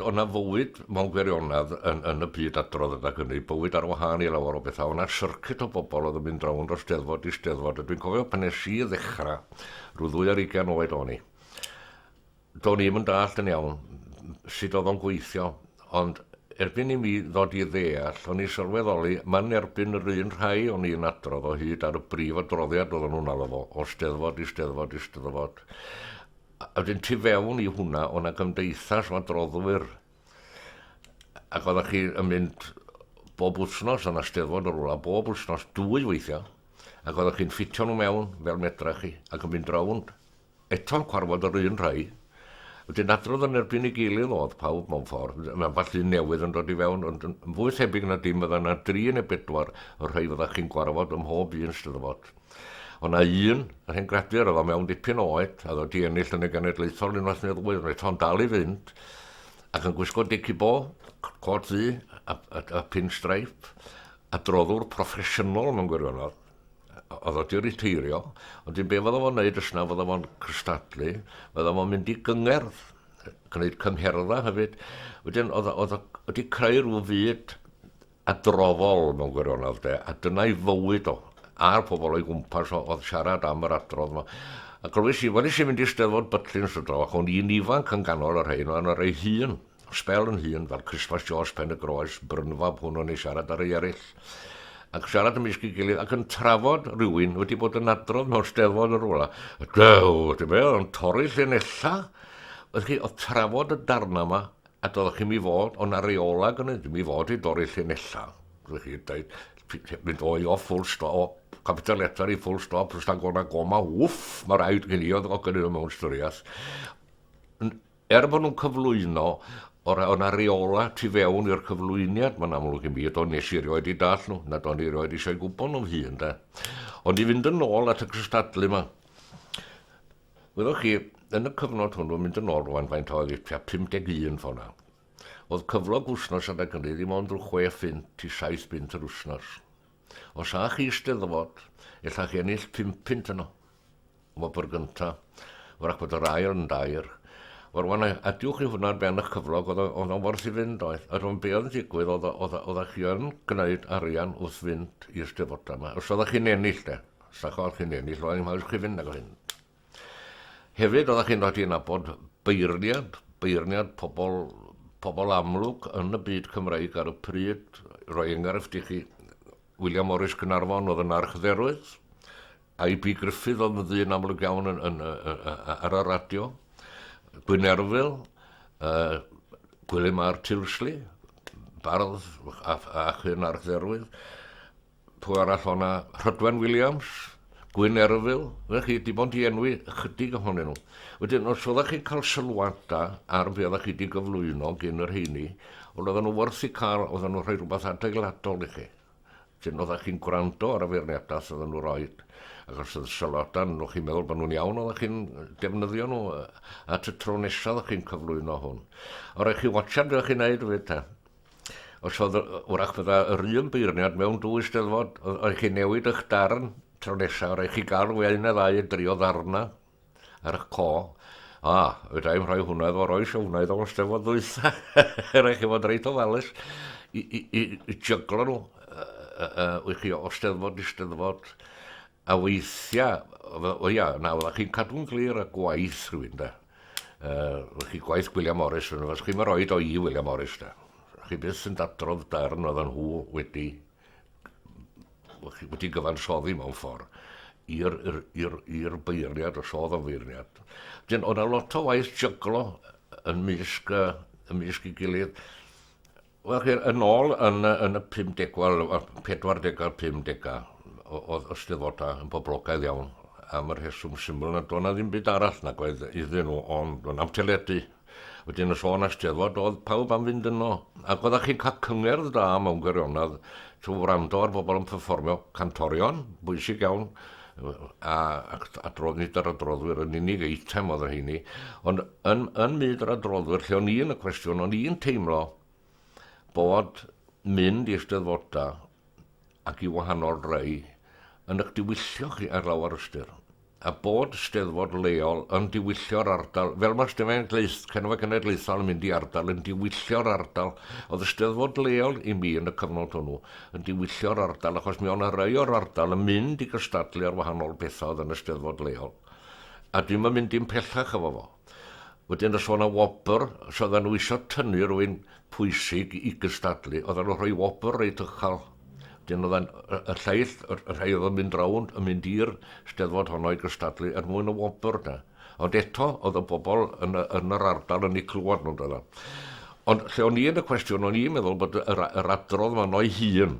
O'na fywyd mewn gwirionedd yn, yn y byd adrodd yna hynny, bywyd ar wahân i lawer o bethau. O'na syrcit o bobl oedd yn mynd rownd o steddfod i steddfod, a dwi'n cofio pan nes i ddechrau, rhyw ddwy ar ugain oed o'n i, Do'n i'm yn dallt yn iawn sut oedd o'n gweithio, ond erbyn i mi ddod i ddeall, o'n i'n sylweddoli man erbyn yr un rhai o'n i'n adrodd o hyd ar y brif adroddiad oedden nhw'n alw fo, o Steddfod i Steddfod i Steddfod. A wedyn tu fewn i hwnna, o' 'na gymdeithas o adroddwyr. Ac oeddech chi yn mynd bob wythnos, o'na Steddfod o rwla, bob wythnos, dwy weithiau, ac oeddech chi'n ffitio nhw mewn fel medra chi, ac yn mynd rownd. Eto'n cwarfod yr un rhai. Wedyn adrodd yn erbyn ei gilydd oedd pawb mewn ffordd, mae ambell un newydd yn dod i fewn, ond yn fwy thebyg na dim fydda 'na dri neu bedwar o'r rhai fyddach chi'n gwarfod ym mhob un Steddfod. O' 'na un, yr hen gradur, oedd o mewn dipyn o oed, a oedd o 'di ennill yn y genedlaethol unwaith neu ddwy, ond eto'n dal i fynd, ac yn gwisgo dici bo, cot ddu a, a, a pin-straip, adroddwr proffesiynol mewn gwirionedd. oedd o di riteirio, ond dim be fydda fo'n neud ysna, fydda fo'n cystadlu, fydda fo'n mynd i gyngerdd, gwneud cyngherddau hefyd. Wedyn, oedd o wedi creu rhyw fyd adroddol mewn gwirionedd, de, a dyna'i fywyd o, a'r pobl o'i gwmpas o, oedd siarad am yr adrodd yma. A glywys i, wedi sy'n mynd i steddfod Butlins y dro, ac o'n i'n ifanc yn ganol yr rhain, o'n o'r ei hun, sbel yn hŷn fel Christmas Joss Pen y Groes brynfab hwn o'n ei siarad ar ei eraill ac siarad ymysg ei gilydd ac yn trafod rhywun wedi bod yn adrodd mewn steddfod yn rhywle. A dew, ti'n be, yn torri lle nella. Oedd chi, oedd trafod y darna yma, a doeddech chi'n mi fod, ond ar reola gynnau, ddim mi fod i dorri lle nella. Oedd chi, dweud, mynd o'i o full stop, o capital letter i full stop, rhywbeth agona goma, wff, mae rhaid gen i oedd o gynnau mewn styriaeth. Er bod nhw'n cyflwyno, o ra- o' 'na reolau tu fewn i'r cyflwyniad, mae'n amlwg i mi, do, nes i rioed i dall nhw, nad o'n i rioed eisiau gwybod nhw'n hun, de. Ond i fynd yn ôl at y cystadlu yma, wyddoch chi, yn y cyfnod hwnnw, mynd yn ôl rwan faint oedd i tua 51 fo na, oedd cyflog wsnos adeg hynny ddim ond rhyw chwe phunt i saith punt yr wsnos. Os â chi Eisteddfod, ella chi ennill pum punt yno. Wobr gynta, wrach bod yr ail yn dair. O'r wan, adiw chi hwnna ar ben eich cyflog, oedd o'n worth i fynd oedd. Yr o'n be oedd yn digwydd, oedd, oedd, oedd chi yn gwneud arian wrth fynd i Eisteddfodau yma. Os oedd chi'n ennill de, os oedd chi'n ennill, oedd hi'n haws chi fynd nag o hyn. Hefyd, oeddech chi'n rhaid i nabod beirniad, beirniad pobl, pobl amlwg yn y byd Cymreig ar y pryd. Rhoi enghraifft i chi, William Morris Cynarfon oedd yn archdderwydd, I.B. Griffith oedd yn ddyn amlwg iawn yn, yn, ar y radio, Gwynerfil, uh, Gwilym Ar Tilsley, bardd ac hyn archdderwydd. Pwy arall o' 'na? Rhydwen Williams, Gwyn Erfil, na chi, dim ond i enwi ychydig ohonyn nhw. Wedyn, os oeddech chi'n cael sylwada ar be oeddech chi wedi gyflwyno gyn yr heini, ond oedden nhw wrth i cael, oedden nhw'n rhoi rhywbeth adeiladol i chi. Wedyn, oeddech chi'n gwrando ar y feirniadau sydd oedden nhw roi, ac os oedd sylwada yn nhw chi'n meddwl bod nhw'n iawn, oeddech chi'n defnyddio nhw at y tro nesaf oeddech chi'n cyflwyno hwn. O, rhaid chi watcha beth chi'n neud fyd ta. Os oedd, wrach bydda yr un beirniad mewn dwy steddfod, oedd chi'n newid eich darn tro nesaf, rhaid chi gael fwy un neu ddau yn drio ddarna ar eich co. A, fydda i'n rhoi hwnna efo roi o wnaeth o'n steddfod ddwytha. rhaid chi fod reit ofalus i, i, i, i jyglo nhw uh, uh, uh, chi o steddfod i steddfod. A weithiau, o ia, nawr, a chi'n cadw'n glir y gwaith rhywun, da. Uh, chi gwaith William Morris, ond os chi'n rhoi o i William Morris, da. Chi byth yn dadrodd darn oedd nhw wedi wedi gyfansoddi mewn ffordd i'r beirniad, os oedd o'n feirniad. Dyn, oedd yna lot o waith jyglo yn mysg, uh, yn mysg i gilydd. Wel, chi, yn ôl yn, yn y 50, wel, 40 a'r 50, oedd y Steddfodau yn boblogaidd iawn am y rheswm syml na doedd na ddim byd arall nag oedd iddyn nhw ond doedd na'm teledu. Wedyn y sôn asteddfod oedd pawb am fynd yno. Ac oeddech chi'n cael cyngerdd da mewn gwirionedd trwy wrando ar bobl yn performio cantorion, bwysig iawn, a adrodd nid yr adroddwyr yn unig eitem oedd o hynny, ond yn, yn myd yr adroddwyr lle o'n i yn y cwestiwn, o'n i'n teimlo bod mynd i ysteddfoda ac i wahanol rei yn eich diwyllio chi ar lawer ystyr. A bod ysteddfod leol yn diwyllio'r ardal, fel mae Stefain Gleith, Cenfa Cenedlaethol yn mynd i ardal, yn diwyllio'r ardal, oedd ysteddfod leol i mi yn y cyfnod hwnnw, yn diwyllio'r ardal achos mi o'n rhai o'r ardal yn mynd i gystadlu ar wahanol bethau oedd yn y steddfod leol a dwi'm yn mynd i'n pellach efo fo. Wedyn os o'na wobr, os oedden nhw isio tynnu rwy'n pwysig i gystadlu, oedden nhw'n rhoi wobr reit uchel. Wedyn oedden y lleill, y rhai oedd yn mynd rownd, yn mynd i'r steddfod honno i gystadlu er mwyn y wobr 'na. Ond eto, oedd y bobl yn, yn yr ardal yn ei clywed nhw'n dweud. Ond lle o'n i yn y cwestiwn, o'n i'n meddwl bod yr, yr adrodd fan o'i hun,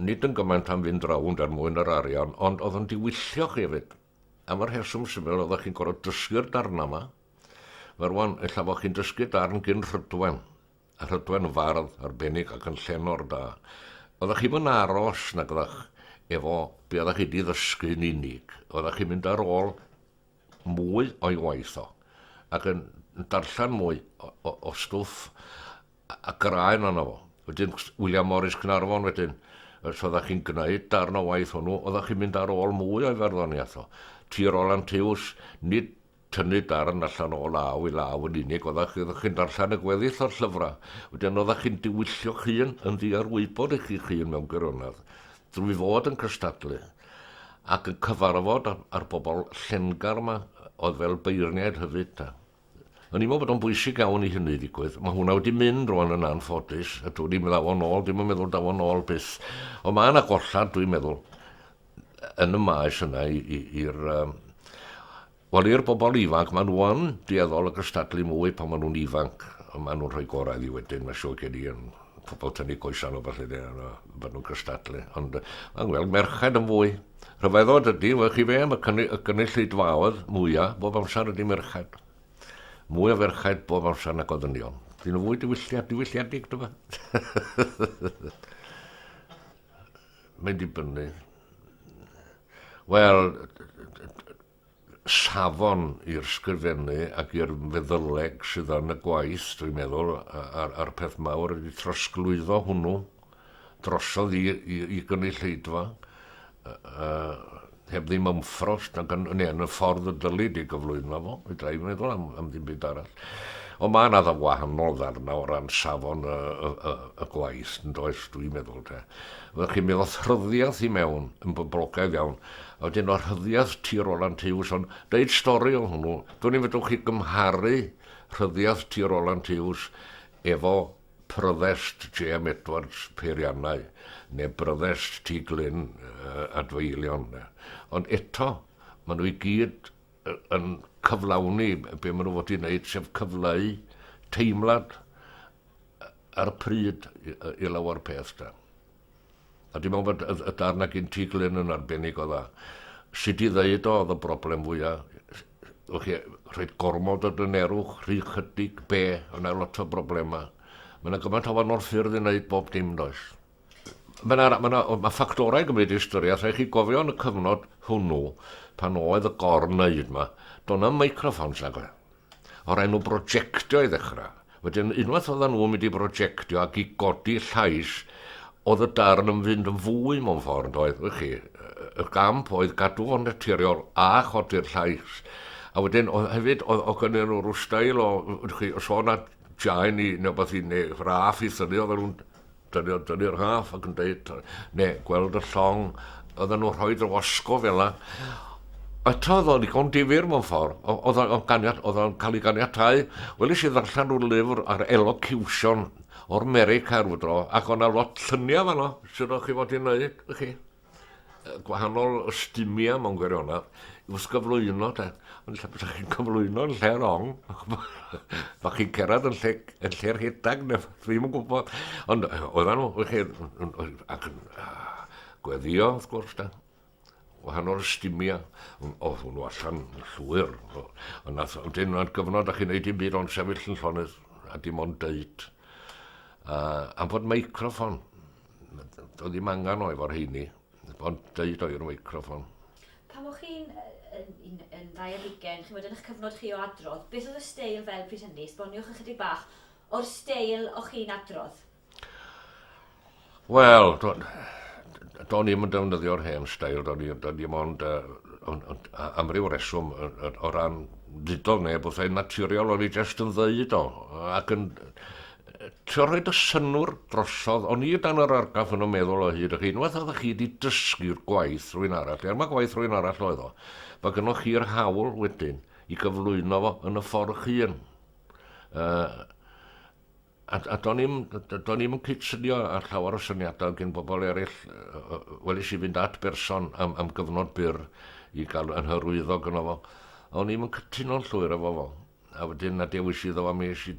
nid yn gymaint am fynd rownd er mwyn yr arian, ond oedd yn diwyllio chi hefyd. Am y rheswm syml, oeddech chi'n gorfod dysgu'r darnau yma. Mae rwan, ella bod chi'n dysgu darn gyn rhydwen. a Rhydwen yn fardd arbennig ac yn llenor da. Oeddach chi'm yn aros nag oeddach efo be oeddach chi di ddysgu yn unig. Oeddach chi'n mynd ar ôl mwy o'i waith o ac yn darllen mwy o, o, o stwff a graen yna fo. Wedyn William Morris Cynarfon wedyn, os oeddach chi'n gwneud darn o waith hwnnw, oeddach chi'n mynd ar ôl mwy o'i farddoniaeth o. Tir Roland Tews, nid tynnu darn allan o law i law yn unig, oeddach oeddach chi'n darllen y gweddill o'r llyfrau, wedyn oeddach chi'n diwyllio'ch hun yn ddiarwybod i chi'ch hun mewn gwirionedd, drwy fod yn cystadlu, ac yn cyfarfod â'r, â'r bobl llengar yma, oedd fel beirniaid hyfyd, ta. O'n i'n meddwl bod o'n bwysig iawn i hynny ddigwydd. Mae hwnna wedi mynd rwan yn anffodus, a dwi'n i'n meddwl o'n ôl, dwi'n yn meddwl daw o'n ôl byth. Ond mae yna gollad, dwi'n meddwl, yn y maes yna i'r... Wel, i'r bobl ifanc, maen nhw yn dueddol o gystadlu mwy pan maen nhw'n ifanc. Maen nhw'n rhoi gorau i wedyn, mae siwr gen i, yn pobl tynnu coesau nhw falle, maen nhw'n gystadlu. Ond mae'n gweld merched yn fwy. Rhyfeddod ydy, fe chi fe, mae cynnu, y cynulleidfaoedd mwyaf bob amser ydy merched. Mwy o ferched bob amser na goddynion. Dyn nhw fwy diwylliad, diwylliadig, dyma. Mae'n dibynnu. Wel, safon i'r sgrifennu ac i'r feddyleg sydd yn y gwaith, dwi'n meddwl, a'r, ar peth mawr ydy trosglwyddo hwnnw drosodd i, i, i gynulleidfa. Uh, heb ddim yn ffrost nag yn, neu yn y ffordd y dylid ei gyflwyno fo, fedra i meddwl am, am ddim byd arall. Ond mae yna dda wahanol ddarna o ran safon y, y, y, y gwaith yn does, dwi'n meddwl te. Fyddwch chi'n meddwl rhyddiaeth i mewn yn boblogaidd iawn, a wedyn o'r rhyddiaeth ti ôl Roland Hughes, ond deud stori o hwnnw, dwi'n i'n fedrwch chi gymharu rhyddiaeth ti ôl Roland Hughes efo Provost Jem Edwards, Peiriannau, neu Brovost Ty Glyn, adfeilion. Ond eto, maen nhw i gyd yn cyflawni be maen nhw fod i wneud, sef cyfleu teimlad ar y pryd i lawer peth. Da. A dwi'n meddwl bod y, y darn na gyn ti, Glyn, yn arbennig o dda. Sut i ddeud o, oedd y broblem fwyaf, o chi, rhaid gormod o dynerwch, rhy chydig, be, yna lot o broblemau. Mae yna gymaint o wahanol ffyrdd i wneud bob dim, does? Mae yna ma, ma ffactorau yn gymryd i ystyriaeth, rhaid chi gofio yn y cyfnod hwnnw, pan oedd y gorn neud yma, do'n am microfons nag oedd. o'r enw brojectio i ddechrau. Wedyn unwaith oedden nhw'n mynd i brojectio ac i godi llais, oedd y darn yn fynd yn fwy mewn ffordd, yn doedd, wych chi? Y gamp oedd gadw fo'n naturiol a chodi'r llais. A wedyn oedd hefyd, oedd, oedd gynnu nhw rhyw stael o, wych chi, os oedd yna jaen i, neu beth i, neu raff i thynnu, oedd nhw'n Dydi, dydi'r rhaff ac yn deud, ne, gweld y llong, oedden nhw'n rhoi dy wasgo fel yna. Eto, oedd o'n ddigon difyr mewn ffordd. Oedd o'n ganiat, oedd o'n cael ei ganiatau. Wel, eisiau ddarllen rhyw lyfr ar elocution o'r America rhyw dro, ac o'na lot lluniau fanno, sydd o'ch chi fod i'n neud, chi. gwahanol ystumia mewn gwirionedd i wrth gyflwyno de. Ond lle bysach chi'n cyflwyno yn lle rong, bach chi'n cerad yn lle, yn lle rhedag, neu ddim yn gwybod. Ond oedden nhw, wych chi, ac yn gweddio, wrth gwrs, da. Wahanol ystumia, oedd hwnnw allan llwyr. Ond nath, ond dyn nhw'n gyfnod, a chi'n neud i'n byd ond sefyll yn llonydd, a dim ond dweud. Uh, am fod microfon, Doedd ddim angen o efo'r heini, ond dweud o i'r microfon. Pan o'ch chi'n yn, yn, yn ddau ar hugen, chi'n bod yn eich cyfnod chi o adrodd, beth oedd y steil fel pryd hynny? Sboniwch ychydig bach o'r steil o'ch chi'n adrodd. Wel, do'n i'm yn defnyddio'r hen stael, do'n i'm ond am ryw reswm o ran ddudodd neb wrth ein naturiol, o'n i jyst yn ddeud o, ac yn Trio rhoid y synnwr drosodd, o'n i o dan yr argraff yn y meddwl o hyd, ac unwaith oeddech chi wedi dysgu'r gwaith rhywun arall, er mai gwaith rhywun arall oedd o, mae gennych chi'r hawl wedyn i gyflwyno fo yn y ffordd eich hun. Uh, a, a do'n i'm, do'n i'm yn cydsynio ar llawer o syniadau gen bobl eraill, wel eisiau fynd at berson am, am gyfnod byr i gael yn hyrwyddog yno fo. O'n i'm yn cytuno'n llwyr efo fo. A wedyn na dewis iddo am es i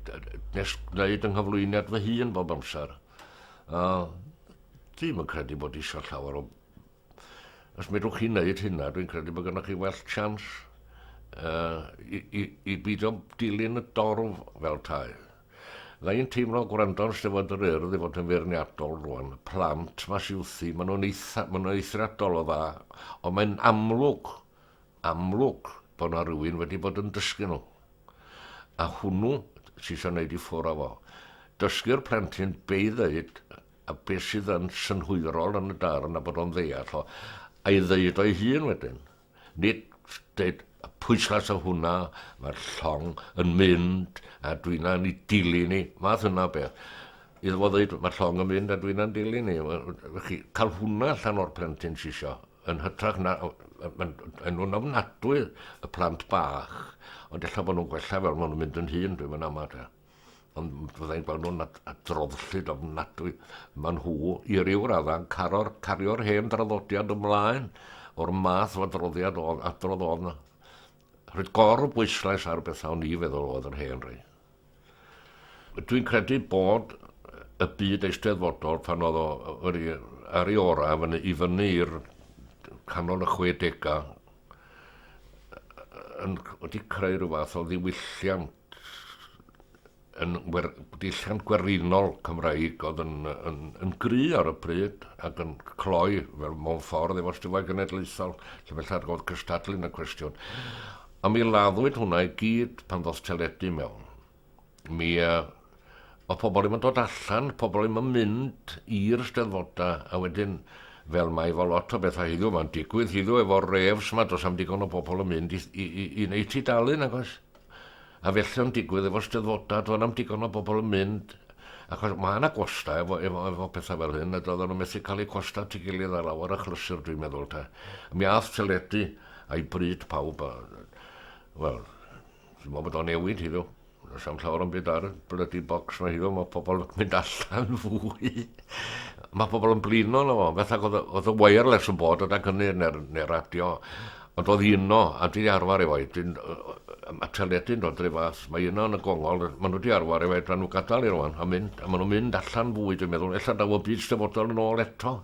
nes gwneud yng nghyflwyniad fy hun bob amser. A ddim yn credu bod eisiau llawer o... Os medrwch chi wneud hynna, dwi'n credu bod gennych chi well chans uh, i, i, i beidio dilyn y dorf fel tai. Dda i'n teimlo gwrando'n stefod yr urdd i fod yn feirniadol rwan. Plant mas iwthi, maen nhw'n eitha, maen nhw eithriadol o dda, ond mae'n amlwg amlwg bod na rywun wedi bod yn dysgu nhw. A hwnnw ti isio neud i ffwr o fo. Dysgu'r plentyn be i ddeud a be sydd yn synhwyrol yn y darn a bod o'n ddeall o, a'i ddeud o'i hun wedyn. Nid deud y pwyslais o hwnna, mae'r llong yn mynd a dwi na ni dilyn ni, fath yna o beth. Iddo fo ddeud mae'r llong yn mynd a dwi na'n dilyn ni. Chi, cael hwnna allan o'r plentyn si isio. yn hytrach na, mae'n nhw'n ofnadwy y plant bach, ond ella bod nhw'n gwella fel maen nhw'n mynd yn hun, dwi'n mynd amod. Ond fyddai'n gweld nhw'n adroddllyd ofnadwy. Maen nhw, i ryw raddau, cario'r cario hen draddodiad ymlaen o'r math o adroddiad o adrodd o'n rhaid gor o bwyslais ar bethau o'n i feddwl oedd yr hen rhaid. Dwi'n credu bod y byd eisteddfodol pan oedd o wedi ar ei orau fan i fyny i'r canol y 60au yn wedi creu rhyw fath o ddiwylliant yn wer, dilliant gwerinol Cymraeg oedd yn, yn, yn gry ar y pryd ac yn cloi fel mewn ffordd efo Steddfod Genedlaethol lle felly oedd cystadlu yn y cwestiwn. A mi laddwyd hwnna i gyd pan ddoth teledu mewn. Mi uh, oedd pobl ddim yn dod allan, pobl ddim yn mynd i'r steddfodau, a wedyn, fel mae fo lot o bethau hiddiw, mae'n digwydd hiddiw efo'r refs mae dos am digon o bobl yn mynd i, i, i, i wneud tu dalun, agos. A felly o'n digwydd efo steddfodau, doedd am digon o bobl yn mynd, Achos ma' 'na gwostau efo efo efo petha fel hyn a doeddan nhw methu cael eu costau at ei gilydd ar lawer achlysur dwi'n meddwl te. Mi ath teledu a'i bryd pawb a wel dwi'n meddwl bod o'n newid hiddo. Does am llawer o'm byd ar y blydi bocs ma' hiddo, mae pobl yn mynd allan fwy. mae pobl yn blino na fo, beth ac oedd y wireless yn bod o dan hynny neu'r, neu radio. Ond doedd hi yno, a dwi 'di arfer efo hi. Dwi'n yy ma' teledu'n dod ry fath. Mae hi yno yn y gongol, ma' nhw 'di arfer efo hi, ddylen nhw gadael hi rŵan a mynd, a ma' nhw'n mynd allan fwy dwi'n meddwl, ella daw y byd dyfodol yn ôl eto.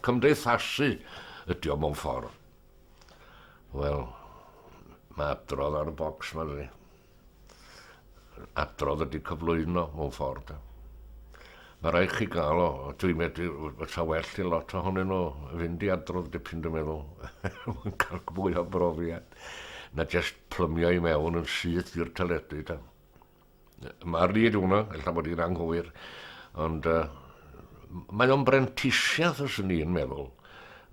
Cymdeithasu ydi o mewn ffordd. Wel, mae adrodd ar y bocs 'ma dydi? adrodd ydy cyflwyno mewn ffordd. Mae rhaid chi gael o, dwi'n medru, fysa well i lot ohonyn nhw fynd i adrodd dipyn dwi'n meddwl, mae'n cael fwy o brofiad, na jyst plymio i mewn yn syth i'r teledu. Ta. Mae'r ryd hwnna, ella bod i'n anghywir, ond uh, mae o'n brentisiaeth os yn ni'n meddwl.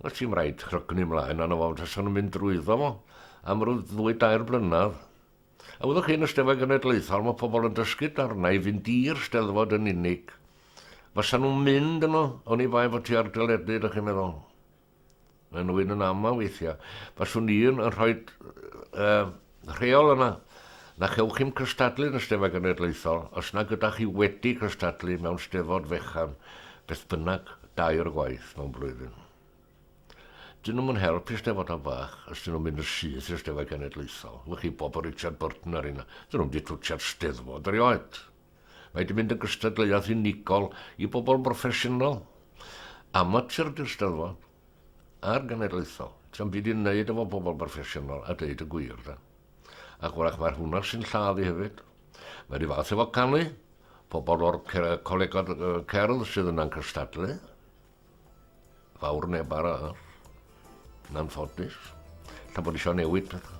Os ti'n rhaid rhygnu mlaen, anna fo, fysa'n mynd drwyddo fo am ryw ddwy dair blynedd, A fyddwch chi yn y Steddfod Genedlaethol, mae pobl yn dysgu darnau i fynd i'r Steddfod yn unig. Fasa nhw'n mynd yno, oni bai fod ti ar deledu, ydych chi'n meddwl? Mae nhw yn aml weithiau. Faswn i yn rhoi uh, rheol yna na chewch chi'n cystadlu yn y Steddfod Genedlaethol os na gyda chi wedi cystadlu mewn Steddfod fechan, beth bynnag, dair gwaith mewn blwyddyn. Dyn nhw'm yn helpu Eisteddfodau bach os dyn nhw'n mynd yn syth i'r Eisteddfod Genedlaethol. Wych i bob o Richard Burton ar hynna. Dyn nhw'm di twtsiad Steddfod erioed. Mae di mynd yn gystadleuaeth unigol i bobl broffesiynol. Amatur di'r Steddfod. A'r Genedlaethol. Ti'm byd i neud efo bobl broffesiynol a deud y gwir da. Ac wrach mae'r hwnna sy'n lladd i hefyd. Mae ry fath efo canu. Pobl o'r colegod cerdd sydd yna'n cystadlu. Fawr neb arall, yn anffodus, ta bod eisiau newid pethau.